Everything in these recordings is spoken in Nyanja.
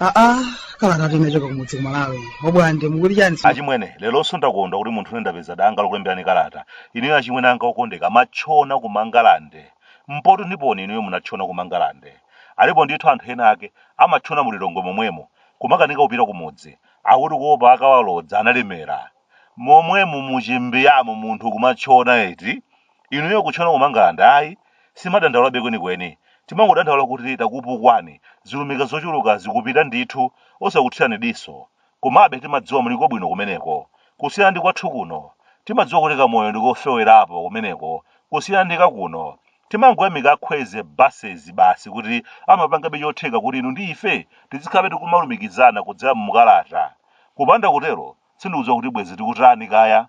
aa kalata yinachoka kumudzi kumalawi abwande mukuti chani si- achimwene leronso ndakondwa kuti munthu une ndapeza danga lokulemberani kalata inuyo achimwene anga okondeka munatchona kumangalande mpoti ndiponi inuyo munatchona kumangalande alipo ndithu anthu ena ake amatchona mulilongwe momwemo kumakanika kupita kumudzi akuti kuopa akawalodza analemera momwemu muchimbiyamo munthu kumatchona eti inuyo kutchona kumangalande ayi simadandaulabe kwenikweni timangodandaula kuti takupukwani zilumika zochuluka zikupita ndithu osakuthirani diso komabe timadziwa muliko bwino kumeneko kusiyana ndi kwathu kuno timadziwa kuti kamoyo ndikofewerapo kumeneko kusiyana ndi kakuno Timangoyamika a Kwezy Buses basi kuti amapangabe chotheka kuti inu ndi ife tizikhalabe tikumalumikizana kudzera mu mukalata. Kupanda kutero, sindikudziwa kuti bwenzi tikutani kaya.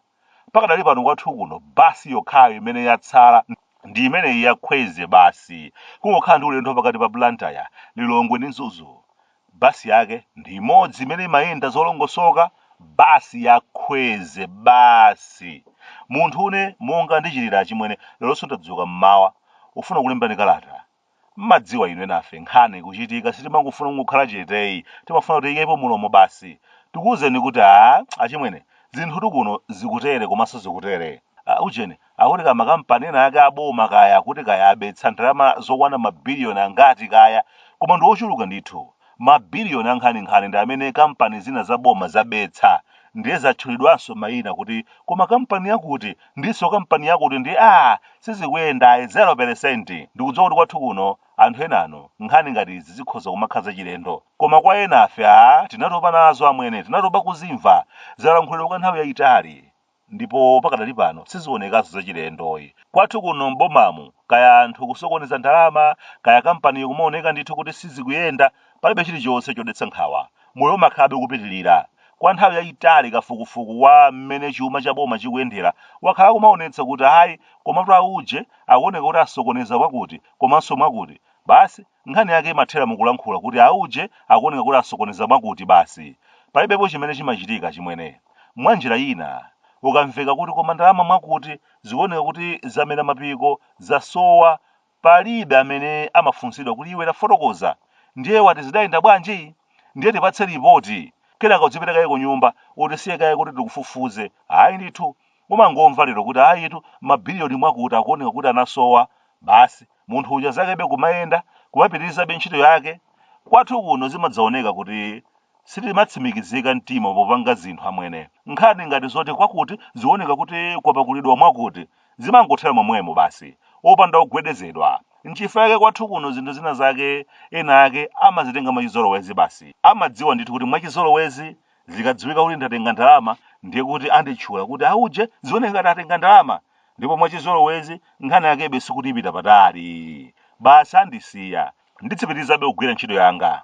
Pakadali pano kwathu kuno bus yokhayo imene yatsala ndi imeneyi ya Kwezy basi. Kungokhala ndi ulendo pakati pa Blantyre, Lilongwe ndi Mzuzu. Bus yake ndi imodzi imene imayenda zolongosoka, bus ya Kwezy basi. Munthu une monga ndichitira achimwene, leronso ndadzuka m'mawa, ufuna kulemberani kalata. M'madziwa inu enafe nkhani kuchitika sitimangofuna kungokhala cheteyi, timafuna kuti tiyikepo mulomo basi. Tikuuzeni kuti aah achimwene zinthutu kuno zikutere komanso zikutere. Aah ujeni akuti makampani ena ake aboma kaya akuti kaya abetsa ndalama zokwana mabiliyoni angati kaya koma ndi ochuluka ndithu mabiliyoni ankhaninkhani ndi amene kampani zina za boma zabetsa ndiye zatchulidwanso mayina kuti koma kampani yakuti ndinso kampani yakuti ndi a sizikuyenda ayi 0 peresenti ndikudziwa kuti kwathu kuno anthu enanu nkhani ngati izi zikhoza kumakhala zachilendo koma kwa enafe a tinatopa nazo amwene tinatopa kuzimva zalankhulidwa kwa nthawi yayitali ndipo pakadali pano sizionekaso zachilendoyi. Kwathu kuno m'bomamu kaya anthu kusokoneza ndalama kaya kampaniyo kumaoneka ndithu kuti sizikuyenda, palibe chilichonse chodetsa nkhawa. Moyo umakhalabe ukupitilira. Kwa nthawi yayitali kafukufuku wa mmene chuma cha boma chikuyendera wakhala akumaonetsa kuti ayi komatu auje akuoneka kuti asokoneza mwakuti komanso mwakuti. Basi Nkhani yake imathera mu kulankhula kuti auje akuoneka kuti asokoneza mwakuti basi. Palibepo chimene chimachitika, achimwene. Mwanjira ina, ukamveka kuti koma ndalama mwakuti zikuoneka kuti zamera mapiko, zasowa, palibe amene amafunsidwa kuti iwe tafotokoza, ndiye wati zidayenda bwanji? Ndiye tipatse lipoti! Kenaka udzipita kaye kunyumba, utisiye kaye kuti tikufufuze. Ayi ndithu! Umangomva lero kuti ayitu mabilioni mwakuti akuoneka kuti anasowa, basi munthu uja zakebe kumayenda, kumapitirizabe ntchito yake. Kwathu kuno zimadzaoneka kuti sitimatsimikizika mtima popanga zinthu amwene. Nkhani ngati zoti kwakuti zikuoneka kuti kwapakulidwa mwakuti, zimangothera momwemo basi, opanda kugwedezedwa. Nchifukwa chake kwathu kuno zinthu zina zake ena ake amazitenga mwachizolowezi basi. Amadziwa ndithu kuti mwachizolowezi zikadziwika kuti ndatenga ndalama ndiye kuti anditchula kuti auje zioneka ngati atenga ndalama ndipo mwachizolowezi nkhani yakebe sikuti ipita patali basi andisiya nditsipitirizabe kugwira ntchito yanga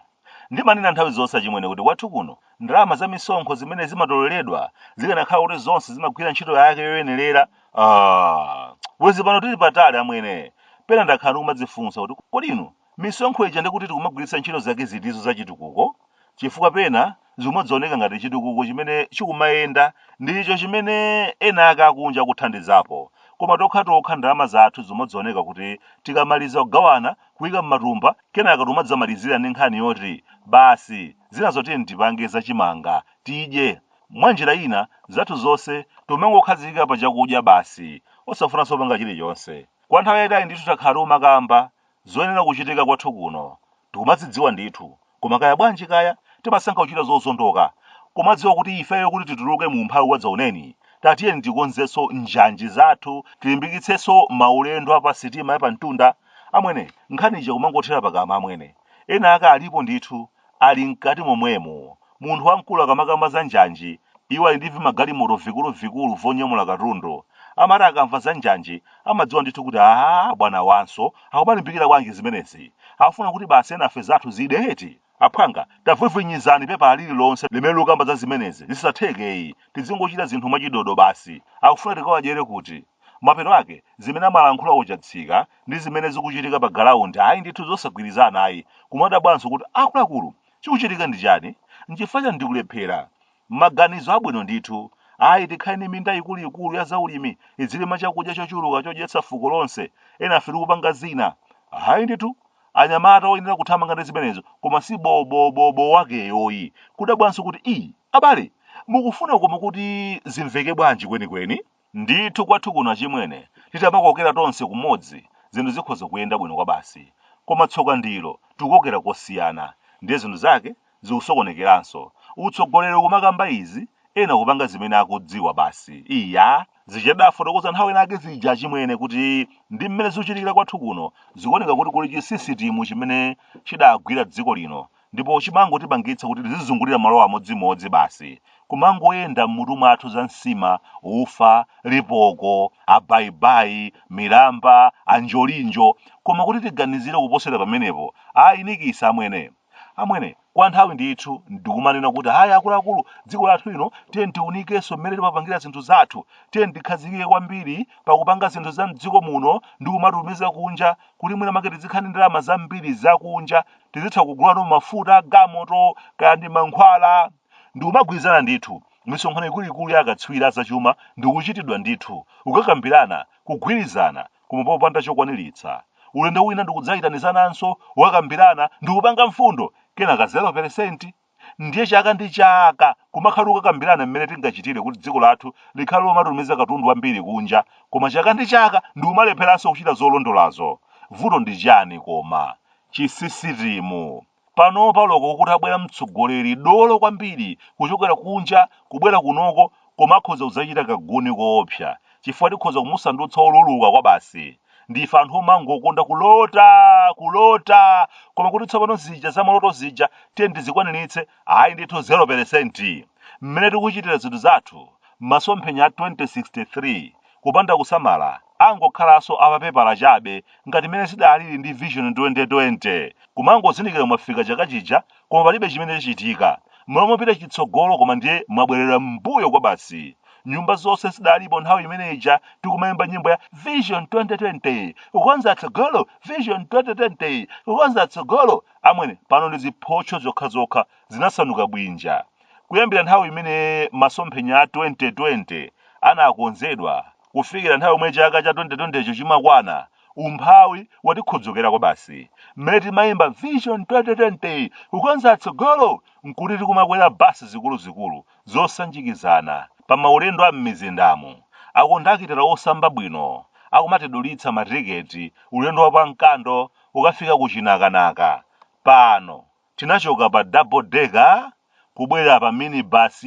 ndimanena nthawi zonse achimwene kuti kwathu kuno ndalama za misonkho zimene zimatoleredwa zikanakhala kuti zonse zimagwira ntchito yake yoyenerera ah, bwezi pano tili patali amwene pena ndakhala ndikumadzifunsa kuti kodi inu misonkho ija ndikuti tikumagwiritsa ntchito zake zitizo zachitukuko chifukwa pena zimadzaoneka ngati chitukuko chimene chikumayenda ndicho chimene ena ake akunja akuthandizapo, koma tokhatokha ndalama zathu zimadzaoneka kuti tikamaliza kugawana, kuika m'matumba, kenaka tikumadzamalizira ndi nkhani yoti, Basi, zinazo tiyeni tipange za chimanga, tidye. Mwanjira ina, zathu zonse tikumangokhazikika pa chakudya basi, osafunanso kupanga chilichonse. Kwa nthawi yaitali ndithu takhala tikumakamba Zoyenera kuchitika kwathu kuno tikumazidziwa ndithu koma kaya bwanji kaya timasankha kuchita zozondoka kumadziwa kuti ifeyo kuti tituluke mu umphawi wadzaoneni tatiyeni tikonzenso njanji zathu tilimbikitsenso maulendo a pasitima ya pamtunda amwene nkhani ija kumangothera pakamwa amwene ena ake alipo ndithu ali mkati momwemo. Munthu wamkulu akamakamba za njanji, iwo ali ndi vimagalimoto vikuluvikulu vonyamula katundu, amati akamva za njanji amadziwa ndithu kuti aah bwana awanso akumalimbikira bwanji zimenezi, akufuna kuti basi enafe zathu zide eti? Aphwanga, tavwivwinizani pepala lililonse limene likukamba za zimenezi, zisatheke eyi, tidzingochita zinthu mwachidodo basi, akufuna tikawadyere kuti? Mapeto ake, zimene amalankhula kuchatsika ndi zimene zikuchitika pa galaundi ayi ndithu zosagwirizana ayi kumadabwanso kuti akuluakulu chikuchitika ndi chani nchifukwa chani ndikulephera maganizo abwino ndithu ayi tikhale ndi minda ikuluikulu ya zaulimi idzirima chakudya chochuluka chodyetsa fuko lonse enafe tikupanga zina ayi ndithu anyamata oyenera kuthamanga ndi zimenezo koma si bobobobo wakeyoyi kudabwanso kuti i abale mukufuna koma kuti zimveke bwanji kwenikweni Ndithu kwathu kuno achimwene titamakokera tonse kumodzi zinthu zikhoza kuyenda bwino kwabasi koma tsoka ndilo tikukokera kosiyana ndiye zinthu zake zikusokonekeranso, utsogoleri kumakamba izi ena kupanga zimene akudziwa basi iyaa! Zija tidafotokoza nthawi ina yake zija achimwene kuti ndi mmene zikuchitikira kwathu kuno zikuoneka kuti kuli chisisitimu chimene chidagwira dziko lino ndipo chimangotipangitsa kuti tizizungulira malo amodzimodzi basi, kumangoyenda m'mutu mwathu za nsima, ufa, lipoko, abayibayi, milamba, anjolinjo, koma kuti tiganizire kuposera pamenepo, ayi nikisa amwene! Amwene, kwa nthawi ndithu n'kumanena kuti ayi akuluakulu, dziko lathu lino tiyeni tiunikenso mmene timapangira zinthu zathu, tiyeni tikhazikike kwambiri pa kupanga zinthu za m'dziko muno ndi kumatumiza kunja kuti mwinamwake tizikhala ndi ndalama zambiri zakunja tizitha kugulano mafuta agalimoto kaya ndi mankhwala ndi kumagwirizana ndithu misonkhano ikuluikulu ya akatswiri azachuma ndi kuchitidwa ndithu n'kukakambirana kugwirizana koma popanda chokwaniritsa ulendo wina ndikudzayitanizananso kukakambirana ndikupanga mfundo kenaka 0 peresenti Ndiye chaka ndi chaka kumakhala tikukambirana mmene tingachitire kuti dziko lathu likhale lomatumiza katundu wambiri kunja koma chaka ndi chaka ndikumalepheranso kuchita zolondolazo. Vuto ndi chani koma? Chisisitimu. Panopa olo kuti abwere mtsogoleri dolo kwambiri kuchokera kunja kubwera kunoko Koma akhoza kudzachita kaguni koopsa chifukwa tikhoza kumusandutsa woluluka kwabasi. Ndife anthu omangokonda kulota! Kulota! Koma kuti tsopano zija zamaloto zija tiyeni tizikwaniritse, ayi ndithu 0 peresenti! Mmene tikuchitira zinthu zathu, masomphenya a 2063, kupanda kusamala, angokhalanso a papepala chabe ngati mmene zidalili ndi Vision 2020. Kumangozindikira mwafika chaka chija koma palibe chimene chichitike mmalo mopita chitsogolo koma ndiye mwabwerera m'mbuyo kwa basi nyumba zonse zidalipo nthawi imene ija tikumayimba nyimbo ya vision 2020 kukonza tsogolo vision 2020 kukonza tsogolo amwene pano ndi ziphotcho zokhazokha zinasanduka bwinja kuyambira nthawi imene masomphenya a 2020 anakonzedwa kufikira nthawi yomwe chaka cha 2020 cho chimakwana umphawi watikhodzokera kwabasi mmene timayimba vision 2020 kukonza tsogolo nkuti tikumakwera basi zikuluzikulu zosanjikizana pa maulendo a m'mizindamo akondakitala osamba bwino akumatidulitsa matiketi ulendo wa pamkando ukafika kuchinakanaka pano Tinachoka pa double decker kubwera pa minibus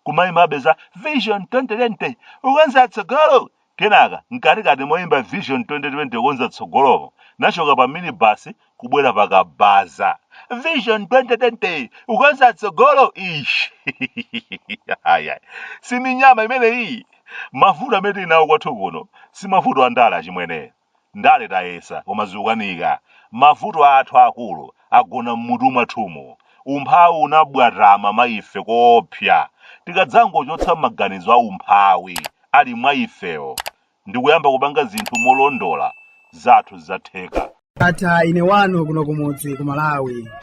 kumayimbabe za Vision 2020 kukonza tsogolo kenaka mkatikati moyimba Vision 2020 kukonza tsogolomo tinachoka pa minibus kubwera pa kabaza Vision 2020 kukonza tsogolo ish Aya. si minyama imeneyi mavuto amene tili nawo kwathu kuno si mavuto andale achimwene Ndale tayesa koma zikukanika. Mavuto athu aakulu agona m'mutu mwathumu. Umphawi unabwatama mwa ife koopsa. Tikadzangochotsa maganizo a umphawi ali mwa ifewo ndikuyamba kupanga zinthu molondola, zathu zidzatheka. Atha ine wanu kuno kumudzi ku Malawi.